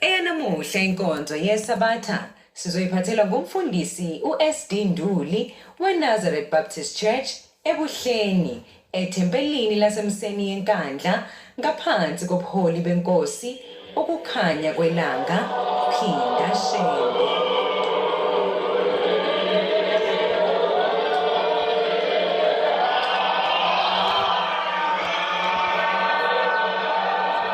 Eyanamuhla inkonzo yeSabatha sizoyiphathelwa ngumfundisi uSD Nduli weNazareth Baptist Church eBuhleni ethempelini laseMseni yeNkandla ngaphansi kobuholi benkosi ukukhanya kwelanga Phinda Shembe.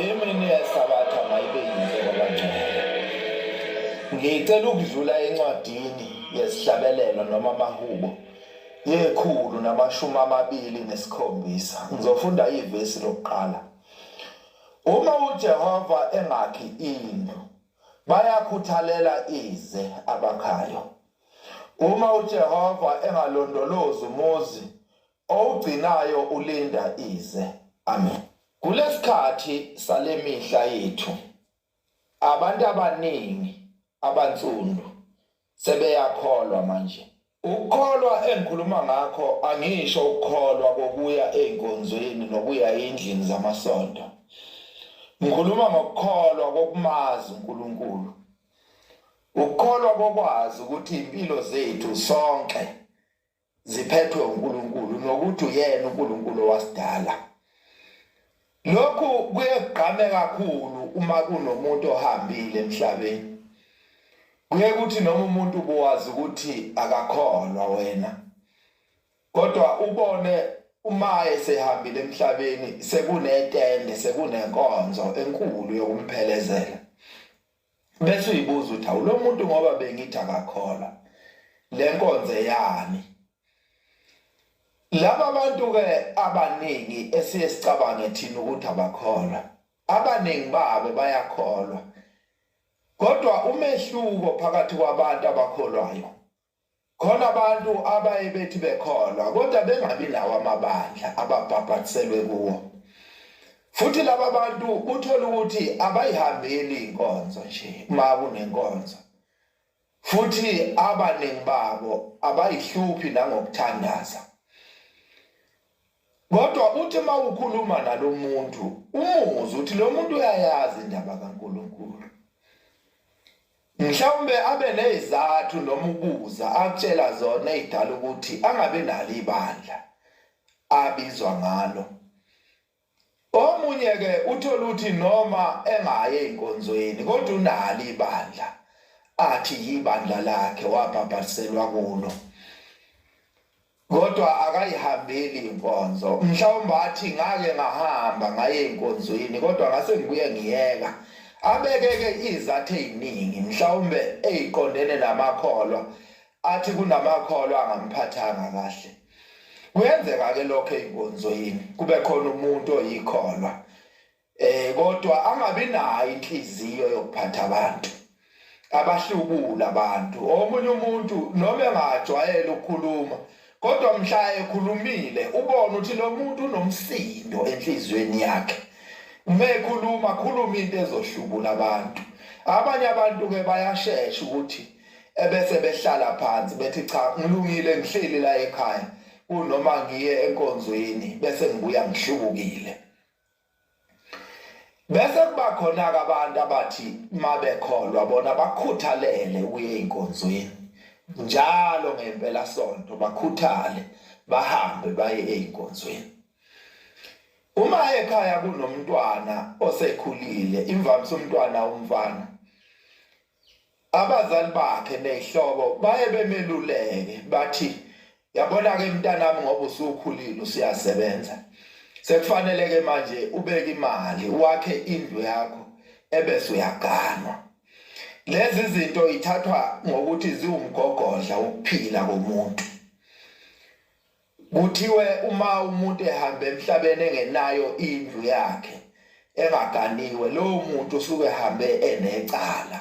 Imini yesabatha mayibe yinhle kwabangcwele. Ngicela ukudlula encwadini yesihlabelelo noma amahubo yekhulu namashumi amabili nesikhombisa. Ngizofunda ivesi lokuqala. Uma uJehova engakhi indlu bayakhuthalela ize abakhayo. Uma uJehova engalondolozi umuzi owugcinayo ulinda ize. Amen. Kulesikhathi salemihla yethu abantu abaningi abansundu sebeyakholwa manje. Ukukholwa engikhuluma ngakho angisho ukukholwa kokuya ezinkonzweni nokuya endlini zamasonto. Ngikhuluma ngokukholwa kokumazi uNkulunkulu. Ukukholwa kokwazi ukuthi impilo zethu sonke ziphethwe uNkulunkulu nokuthi uyena uNkulunkulu wasidala. Lokhu kuyegqame kakhulu uma kunomuntu ohambile emhlabeni. Kuye kuthi noma umuntu ubuwazi ukuthi akakholwa wena. Kodwa ubone uma esehambile emhlabeni sekunetende sekunenkonzo enkulu yokumphelezela. bese uyibuza ukuthi awu lo muntu ngoba bengithi akakholwa le nkonzo eyani laba bantu ke abaningi esiye sicabange thina ukuthi abakholwa abaningi babo bayakholwa kodwa umehluko phakathi kwabantu abakholwayo Khona abantu abaye bethi bekholwa kodwa bengabi nawo amabandla ababhabhatiselwe kuwo. Futhi laba bantu uthola ukuthi abayihambeli inkonzo nje uma kunenkonzo. Futhi abaningi babo abayihluphi nangokuthandaza. Kodwa uthi uma ukhuluma nalomuntu umuzwe uthi lo muntu uyayazi indaba kaNkulunkulu. mhlawumbe abe nezizathu noma ukubuza akutshela zona ezidala ukuthi angabe nalo ibandla abizwa ngalo omunye ke uthola ukuthi noma engaye enkonzweni kodwa unalo ibandla athi yibandla lakhe wabhabhaliselwa kulo kodwa akayihambeli inkonzo mhlawumbe athi ngake ngahamba ngaye enkonzweni kodwa ngase ngibuye ngiyeka abekeke izathu eziningi mhlawumbe eziqondene namakholwa athi kunamakholwa angamphathanga kahle kuyenzeka ke lokho enkonzweni kube khona umuntu oyikholwa eh kodwa angabi nayo inhliziyo yokuphatha abantu abahlubula abantu omunye umuntu noma engajwayele ukukhuluma kodwa mhla ekhulumile ubona ukuthi lo muntu unomsindo enhliziyweni yakhe uma ekhuluma khuluma into ezohlubula abantu abanye abantu ke bayashesha ukuthi ebese behlala phansi bethi cha ngilungile ngihleli la ekhaya kunoma ngiye enkonzweni bese ngibuya ngihlubukile bese kuba khona-ke abantu abathi uma bekholwa bona bakhuthalele ukuya ey'nkonzweni njalo ngempelasonto bakhuthale bahambe baye ey'nkonzweni uma ekhaya kunomntwana osekhulile imvamisa umntwana umfana abazali bakhe nehlobo baye bemeluleke bathi yabona-ke mntanami ngoba usukhulile usuyasebenza sekufanele-ke manje ubeke imali wakhe indlu yakho ebese uyaganwa lezi zinto ithathwa ngokuthi ziwumgogodla wokuphila komuntu Kuthiwe uma umuntu ehamba emhlabeni engenayo indlu yakhe engaganiwe lowo muntu usuke ehambe enecala.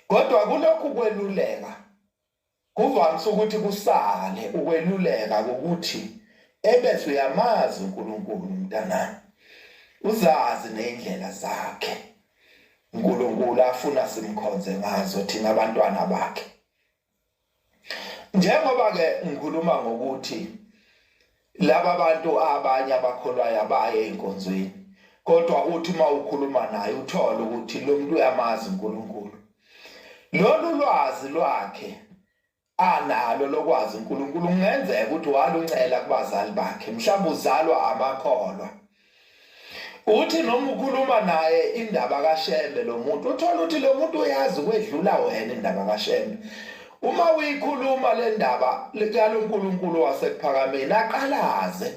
Kodwa kulokhu kweluleka kuvamise ukuthi kusale ukweluleka ukuthi ebese uyamazi uNkulunkulu mntanami. Uzazi nezindlela zakhe. uNkulunkulu afuna simkhonze ngazo thina abantwana bakhe. njengoba ke ngikhuluma ngokuthi laba bantu abanye abakholwayo abaye enkonzweni kodwa uthi uma ukhuluma naye uthole ukuthi lo muntu uyamazi uNkulunkulu lolu lwazi lwakhe analo lokwazi uNkulunkulu kungenzeka ukuthi waluncela kubazali bakhe mhlawumbe uzalwa amakholwa uthi noma ukhuluma naye indaba kaShembe lo muntu uthola ukuthi lo muntu uyazi kwedlula wena indaba kaShembe uma uyikhuluma le ndaba likaNkulunkulu wasekuphakameni aqalaze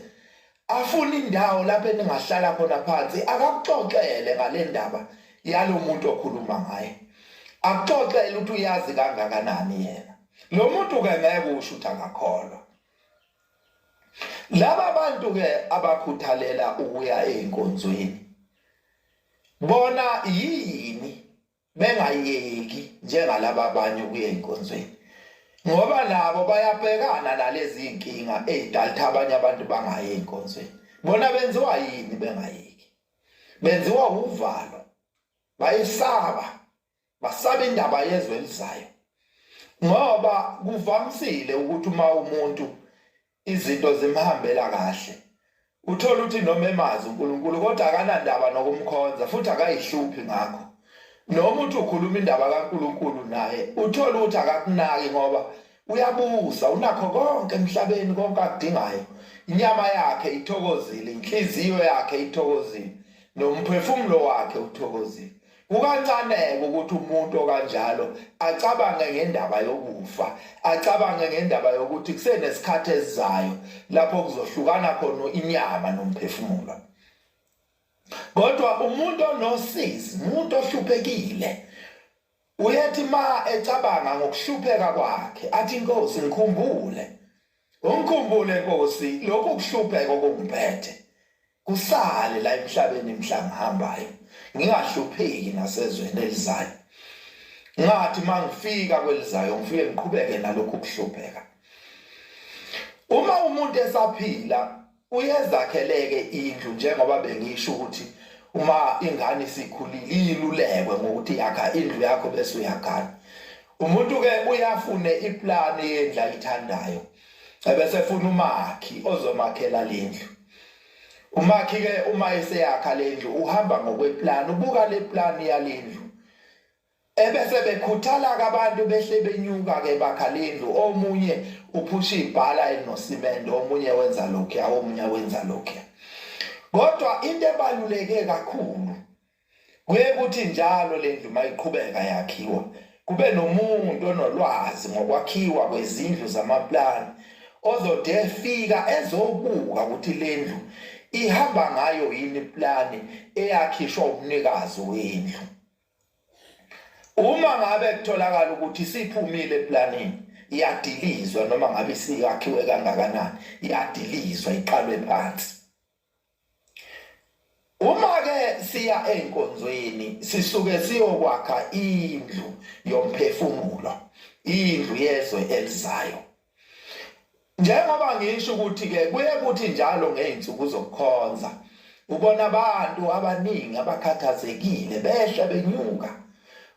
afuna indawo lapho eningahlala khona phansi akakuxoxele ngale ndaba yalomuntu okhuluma ngaye akuxoxele ukuthi uyazi kangakanani yena lo muntu ke ngeke usho ukuthi akakholwa laba bantu ke abakhuthalela ukuya einkonzweni bona yini bengayeki njengalaba abanye ukuya einkonzweni ngoba nabo bayabhekana nalezi inkinga ezidaltha abanye abantu bangayi einkonzweni bona benziwa yini bengayeki benziwa uvalo bayisaba basabe indaba yezwe elizayo ngoba kuvamisile ukuthi uma umuntu izinto zimhambela kahle uthola ukuthi noma emazi uNkulunkulu kodwa akanandaba nokumkhonza futhi akayihluphi ngakho noma uthi ukhuluma indaba kaNkulunkulu naye uthola ukuthi akakunaki ngoba uyabusa unakho konke emhlabeni konke akudingayo inyama yakhe ithokozile inhliziyo yakhe ithokozile nomphefumulo wakhe uthokozile Kukancane-ke ukuthi umuntu okanjalo acabange ngendaba yokufa, acabange ngendaba yokuthi kusenesikhathi esizayo lapho kuzohlukana khona inyama nomphefumulo. Kodwa umuntu onosizi, umuntu ohluphekile, uyethi ma ecabanga ngokuhlupheka kwakhe, athi inkosi ngikhumbule. Ungikhumbule Nkosi lokhu kuhlupheka okungiphethe. ngisale la emhlabeni mhla ngihambayo ngingahlupheki nasezweni elizayo ngathi mangifika kwelizayo ngifike ngiqhubeke nalokhu kuhlupheka uma umuntu esaphila uyezakheleke indlu njengoba bengisho ukuthi uma ingane isikhulile ilulekwe ngokuthi yakha indlu yakho bese uyagana umuntu ke uyafune iplani yendla ayithandayo ebese funa umakhi ozomakhela lendlu umakhi ke uma eseyakha lendlu uhamba ngokweplan ubuka leplan yalendlu ebese bekhuthala abantu behle benyuka ke bakha lendlu omunye uphusha ibhala enosimende omunye wenza lokho omunye wenza lokho kodwa into ebaluleke kakhulu Kuye kuthi njalo le ndlu mayiqhubeka yakhiwa kube nomuntu onolwazi ngokwakhiwa kwezindlu zamaplani ozode fika ezobuka ukuthi le ndlu ihamba ngayo yini iplani eyakhishwa umnikazi wendlu. Uma ngabe kutholakala ukuthi siphumile eplanini iyadilizwa noma ngabe siyakhiwe kangakanani iyadilizwa iqalwe phansi. Uma ke siya enkonzweni sisuke siyokwakha indlu yomphefumulo, indlu yezwe elizayo. Njengoba ngisho ukuthi ke kuye kuthi njalo ngeinsuku zokukhonza ubona abantu abaningi abakhathazekile behle benyuka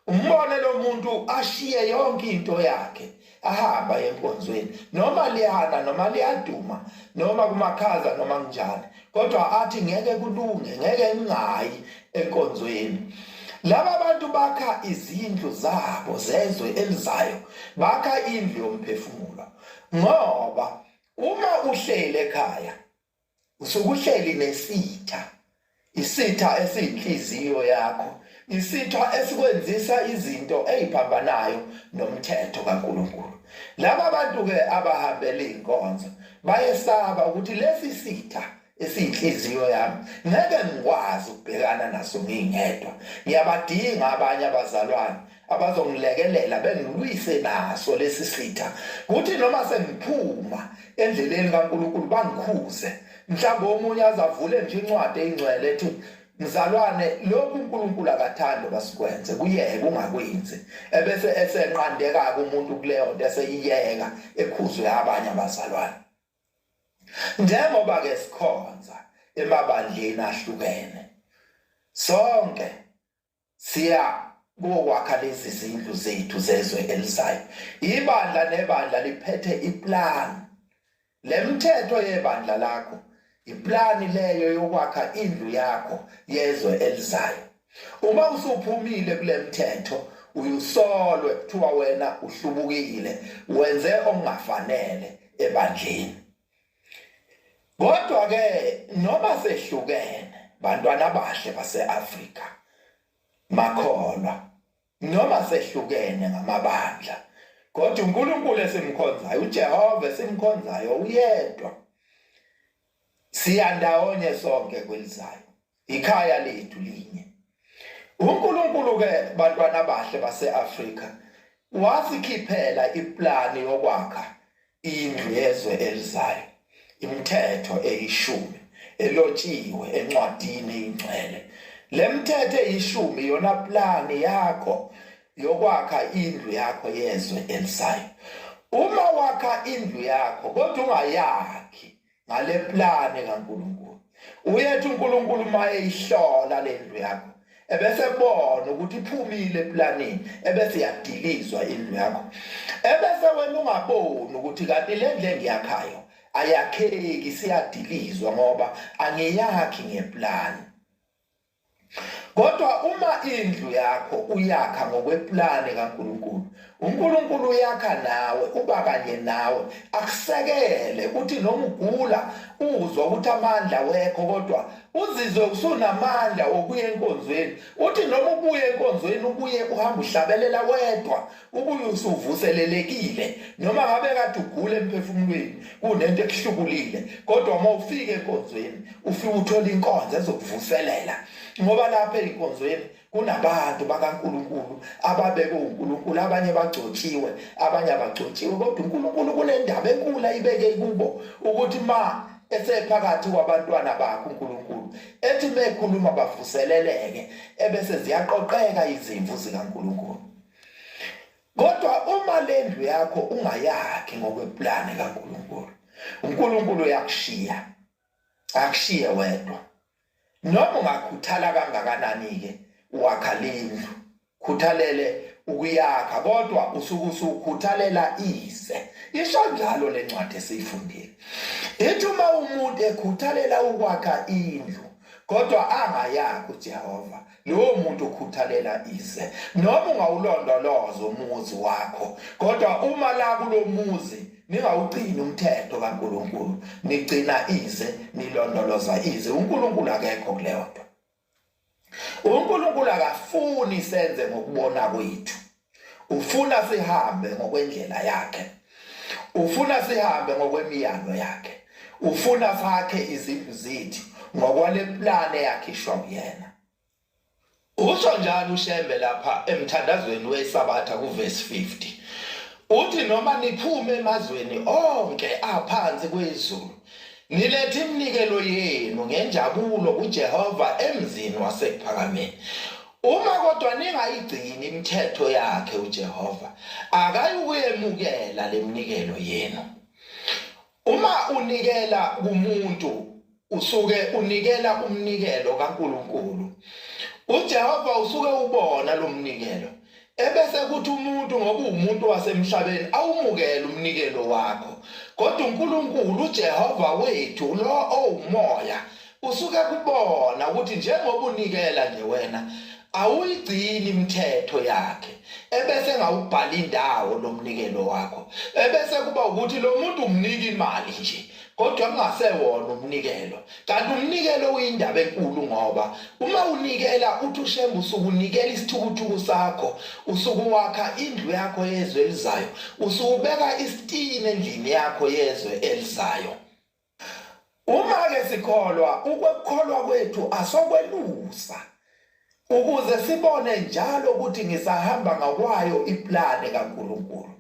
umbone lo muntu ashiye yonke into yakhe ahamba enkonzweni noma liyana noma liyaduma noma kumakhaza noma kunjani kodwa athi ngeke kulunge ngeke ngingayi enkonzweni laba bantu bakha izindlu zabo zezwe elizayo bakha indlu yomphefumulo ngoba uma uhlele ekhaya usukuhleli nesitha isitha esiyinhliziyo yakho isitha esikwenzisa izinto eziphambanayo nomthetho kaNkuluNkulu laba bantu ke abahambela inkonzo bayesaba ukuthi lesi sitha esiyinhliziyo yami ngeke ngikwazi ukubhekana naso ngingedwa ngiyabadinga abanye abazalwane abazongilekelela bengilwise naso lesi sitha kuthi noma sengiphuma endleleni kaNkulunkulu bangikhuze mhlawumbe omunye azavule nje incwadi eyingcwele ethi mzalwane lokhu uNkulunkulu akathandi basikwenze kuyeke ungakwenzi ebese esenqandeka umuntu kuleyo nto eseyiyeka ekhuzwe abanye abazalwane njengoba ke sikhonza emabandleni ahlukene sonke siya kokwakha lezi zindlu zethu zezwe elizayo ibandla nebandla liphethe iplan lemthetho yebandla lakho iplani leyo yokwakha indlu yakho yezwe elizayo uma usuphumile kulemthetho uyusolwe kuthiwa wena uhlubukile wenze ongafanele ebandleni kodwa ke noma sehlukene bantwana bahle baseAfrika makholwa noma sehlukene ngamabandla kodwa uNkulunkulu esimkhonzayo uJehova esimkhonzayo uyedwa siyandawonye sonke kwelizayo ikhaya lethu linye uNkulunkulu ke bantwana bahle baseAfrika wasikhiphela iplani yokwakha indlu yezwe elizayo imithetho eyishumi elotshiwe encwadini ingcwele lemthethe ishumi yona plani yakho yokwakha indlu yakho yezwe elisayo uma wakha indlu yakho kodwa ungayakhi ngale plane kaNkulunkulu uyethi uNkulunkulu maye ihlola lendlu yakho ebese bona ukuthi iphumile eplanini ebese yadilizwa indlu yakho ebese wena ungaboni ukuthi kanti le ndlu engiyakhayo ayakheki siyadilizwa ngoba angiyakhi ngeplani Kodwa uma indlu yakho uyakha ngokweplane kaNkulunkulu, uNkulunkulu uyakha nawe, uba kanye nawe, akusekele ukuthi noma ugula uzwa ukuthi amandla wekho kodwa uzizwe usunamandla okuya enkonzweni. Uthi noma ubuye enkonzweni ubuye uhamba uhlabelela wedwa ubuye usuvuselelekile noma ngabe kade ugule emphefumulweni kunento ekuhlukulile kodwa uma ufika enkonzweni ufike uthole inkonzo ezokuvuselela ngoba lapha enkonzweni kunabantu bakaNkuluNkulu ababekwe uNkuluNkulu abanye bagcotshiwe abanye abagcotshiwe kodwa uNkuluNkulu kunendaba enkulu ayibeke kubo ukuthi ma esephakathi kwabantwana bakhe uNkuluNkulu ethi mekhuluma bavuseleleke ebese ziyaqoqeka izimvu zikaNkuluNkulu kodwa uma lendlu yakho ungayakhi ngokweplane kaNkulunkulu uNkulunkulu uyakushiya akushiye wedwa noma ungakhuthala kangakanani ke wakha lendlu khuthalele ukuyakha kodwa usuke usukhuthalela ize isho njalo lencwadi esiyifundile ithi uma umuntu ekhuthalela ukwakha indlu kodwa angayakho uJehova lowo muntu okhuthalela ize noma ungawulondoloza umuzi wakho kodwa uma la kulomuzi ningawugcini umthetho kaNkuluNkulu nigcina ize nilondoloza ize uNkuluNkulu akekho kuleyo nto uNkuluNkulu akafuni senze ngokubona kwethu ufuna sihambe ngokwendlela yakhe ufuna sihambe ngokwemiyalo yakhe ufuna sakhe izindlu zethu ngokwale plane yakhishwa kuyena usho njalo ushembe lapha emthandazweni wesabatha kuvesi 50 uthi noma niphume emazweni onke aphansi kwezulu nilethe iminikelo yenu ngenjabulo kuJehova emzini wasekuphakameni Uma kodwa ningayigcini imithetho yakhe uJehova akayukuyemukela leminikelo yenu. Uma unikela kumuntu usuke unikela umnikelo kaNkuluNkulu. UJehova usuke ubona lomnikelo ebese kuthi umuntu ngoba uwumuntu wasemhlabeni awumukele umnikelo wakho kodwa uNkulunkulu uJehova wethu lo owumoya usuke kubona ukuthi njengoba unikela nje wena awuyigcini imithetho yakhe ebese ngawubhala indawo lomnikelo wakho ebese kuba ukuthi lo muntu umnika imali nje kodwa kungasewona umnikelo kanti umnikelo uyindaba enkulu ngoba uma unikela uthi ushembe usuke unikela isithukuthuku sakho usuke wakha indlu yakho yezwe elizayo usuke ubeka isitini endlini yakho yezwe elizayo uma ke sikholwa ukukholwa kwethu asokwelusa ukuze sibone njalo ukuthi ngisahamba ngakwayo iplane kaNkulunkulu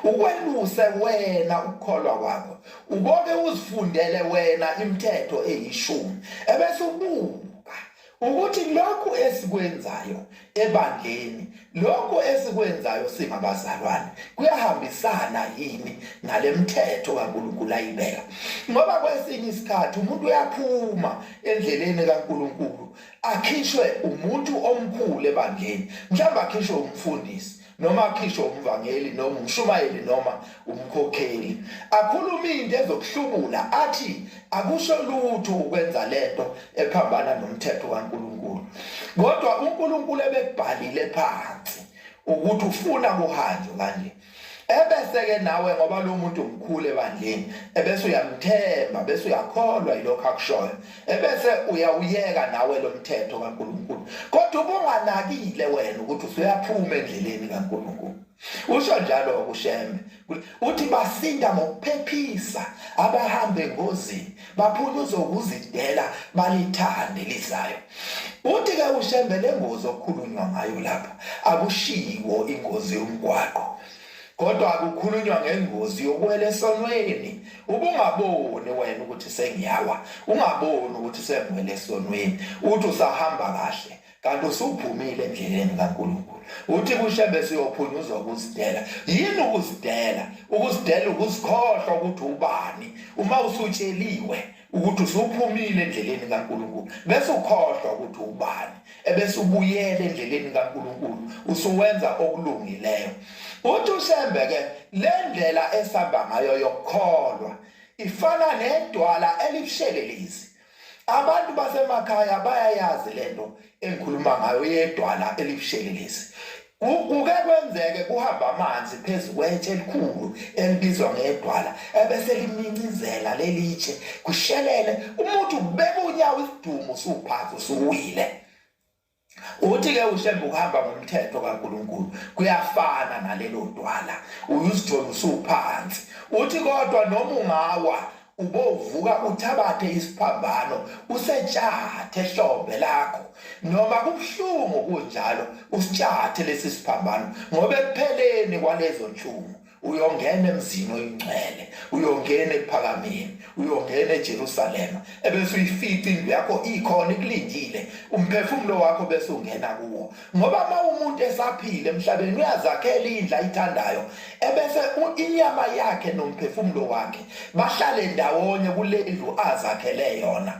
ukwenuse wena ukukholwa kwakho uboke uzifundele wena imithetho eyishumi ebese ubuka ukuthi lokhu esikwenzayo ebandleni lokhu esikwenzayo singabazalwane kuyahambisana yini nalemithetho kaNkuluNkulu ayibeka ngoba kwesinye isikhathi umuntu uyaphuma endleleni kaNkuluNkulu akhishwe umuntu omkhulu ebandleni mhlawumbe akhishwe umfundisi noma akhishwe umvangeli noma umshumayeli noma umkhokheli akhuluma into ezokuhlubula athi akusho lutho ukwenza lento ephambana nomthetho kaNkuluNkulu kodwa uNkuluNkulu ebekubhalile phansi ukuthi ufuna kuhanjwe kanje ebese-ke nawe ngoba lo muntu mkhulu ebandleni ebese uyamthemba bese uyakholwa yilokho akushoyo ebese uyawuyeka nawe lo mthetho kankulunkulu kodwa ubunganakile wena ukuthi usuyaphuma endleleni kankulunkulu usho njalo ukushembe uthi basinda ngokuphephisa abahambe ngozini baphuluza ukuzidela balithande lizayo uthi ke ushembele ngozi okhulunywa ngayo lapha akushiwo ingozi yomgwaqo kodwa akukhulunywa ngengozi yokuwela esonweni ubungaboni wena ukuthi sengiyawa ungaboni ukuthi sengwele esonweni uthi usahamba kahle kanti usuphumile endleleni kaNkulunkulu uthi kushebe siyophunyuzwa ukuzidela yini ukuzidela ukuzidela ukuzikhohlwa ukuthi ubani uma usutsheliwe ukuthi usuphumile endleleni kaNkulunkulu bese ukhohlwa ukuthi ubani ebese ubuyela endleleni kaNkulunkulu usuwenza okulungileyo uthi ushembe ke le ndlela esihamba ngayo yokukholwa ifana nedwala elibushelelezi abantu basemakhaya bayayazi lento engikhuluma ngayo yedwala elibushelelezi kuke kwenzeke kuhamba amanzi phezu kwetshe elikhulu elibizwa ngedwala ebese limincizela lelitshe kushelele umuntu kubeka unyawo isidumo suphansi usuwile uthi ke ushembe ukuhamba ngomthetho kaNkuluNkulu kuyafana nalelo dwala uyuzithola usuphansi uthi kodwa noma ungawa ubovuka uthabathe isiphambano usetshathe hlombe lakho noma kubuhlungu kunjalo usitshathe lesi siphambano ngoba ekupheleni kwalezo nhlungu uyongena emzini oyingcwele uyongena ekuphakameni uyongena eJerusalema ebese uyifica indlu yakho ikhona ikulindile umphefumulo wakho bese ungena kuwo ngoba uma umuntu esaphila emhlabeni uyazakhela indlu ayithandayo ebese inyama yakhe nomphefumulo wakhe bahlale ndawonye kule ndlu azakhele yona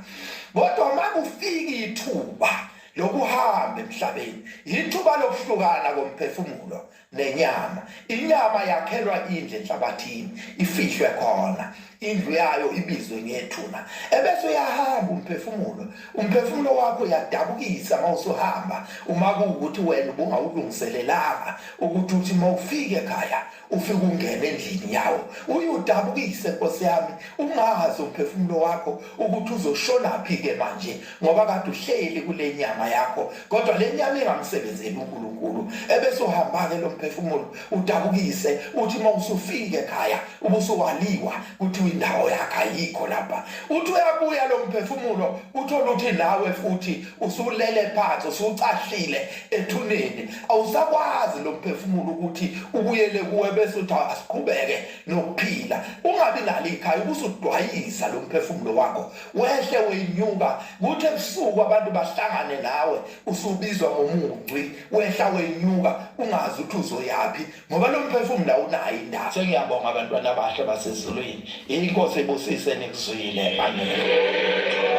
kodwa uma kufika ithuba lokuhamba emhlabeni yithuba lokuhlukana komphefumulo nenyama inyama yakhelwa indle enhlabathini ifihlwe khona indlu yayo ibizwe ngethuna ebese uyahamba umphefumulo umphefumulo wakho uyadabukisa mawusuhamba uma kuwukuthi wena ubungawulungiselelanga ukuthi uthi mawufike ekhaya ufike ungene endlini yawo uyudabukise nkosi yami ungazi umphefumulo wakho ukuthi uzoshona phi ke manje ngoba kade uhleli kule nyama yakho kodwa le nyama ingamsebenzeli uNkulunkulu ebese uhamba-ke lo mphefumulo udabukise uthi uma usufike ekhaya ubusuwaliwa kuthiwa indawo yakhe ayikho lapha uthi uyabuya lo mphefumulo uthole ukuthi nawe futhi usulele phansi usucahlile ethuneni awusakwazi lo mphefumulo ukuthi ubuyele kuwe bese uthi asiqhubeke nokuphila ungabi nalo ikhaya ubusudwayisa lo mphefumulo wakho wehle wenyuka kuthi ebusuku abantu bahlangane nawe usubizwa ngomunci wehla wenyuka ungazi ukuthi uzoyaphi ngoba lo mphefumulo awunayo indawo sengiyabonga abantwana abahle basezulwini inkosi ibusise nikuzwile amen